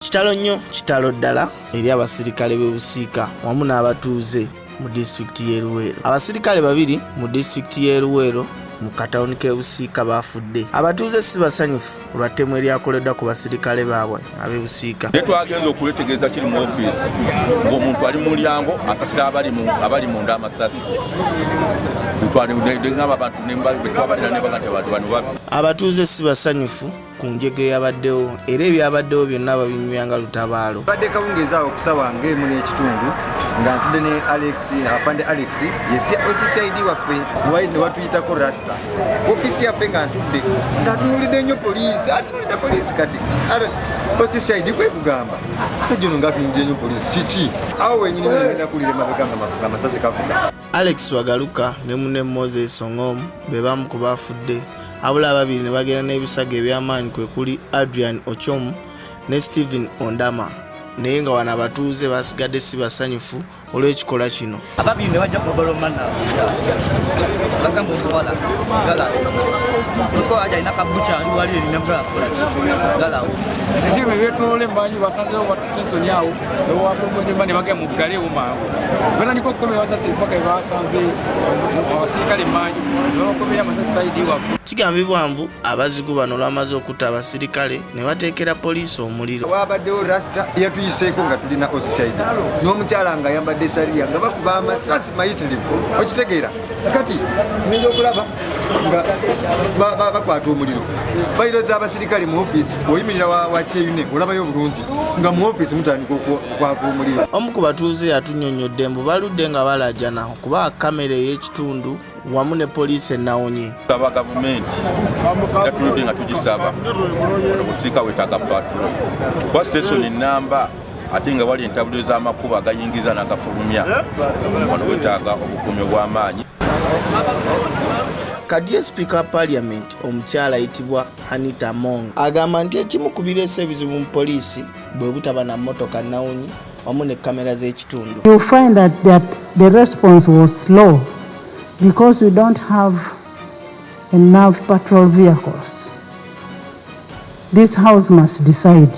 kitalo nnyo kitalo ddala eri abasirikale b'e busiika wamu n'abatuuze mu disitulikiti y'e luweero abasirikale babiri mu disitulikiti y'e luweero mu katawuni k'e busiika baafudde abatuuze si basanyufu olwa ttemu eryakoleddwa ku basirikale baabwe ab'e busiika naye twagenza okwetegeeza kiri mu ofiisi ng'omuntu ali mu mulyango asasira abali munda amasasi abatuuze si basanyufu ku njega eyabaddewo era ebyabaddewo byonna babinyumya nga lutabaalo badde kawungeezi awo okusawa ng'emu n'ekitundu nga ntudde ne alex afande alex yescid waffe wali ne watuyitako rasta ofiisi yaffe nga ntudde ng'atunulidde nnyo poliisi atunulidde poliisi kati oscid kwekugamba musajja ono ng'atunulidde nnyo poliisi kiki awo wenyini nagenda kulira emabega nga amasasi kavuga Alex Wagaluka ne munne Moses Ongom be bamu ku baafudde abula ababiri ne bagenda n'ebisago eby'amaanyi kwe kuli Adrian Ochom ne Stephen Ondama naye nga wano abatuuze basigadde si basanyufu olw'ekikola kino ababiri ne bajja kubalomana bagamba okuwala gala kuliko alina kabuca ali wali erina gala gala ebyetolole mbanyi basanzewo sensoni awo newawakongonjomba ne bagenda muggaleewo mangu batandika okukomera amasasi empaka ebasanze abasirikale manju nebabakomera amasasi saidi wafe kigambibwa mbu abazigu bano olwamaze okutta abasirikale ne bateekera poliisi omuliro wabaddewo rasita yatuyiseeko nga tulina osisaidi n'omukyala nga yambadde sariya nga bakuba amasasi mayitirivu okitegeera kati ngenda okulaba nga bakwata omuliro bayiro z'abasirikale mu ofiisi oyimirira wakyeyune olabayo obulungi nga mu ofiisi mutandika okwaka omuliro omu ku batuuze yatunyonyodde mbu baludde nga balajana okuba kamera ey'ekitundu wamu ne poliisi enawonye saba gavumenti era tuludde nga tugisaba obusiika wetaga patro kuba sitesoni namba ate nga wali entabuliro z'amakubo agayingiza n'agafulumya wano wetaaga obukuumi obw'amaanyi kadiye sipiika wa paaliyamenti omukyala ayitibwa hanita mong agamba nti ekimu ku bireesa ebizibu mu poliisi bwe butaba na mmotoka nawunyi wamu ne kamera z'ekitundu enough patrol vehicles. This house must decide.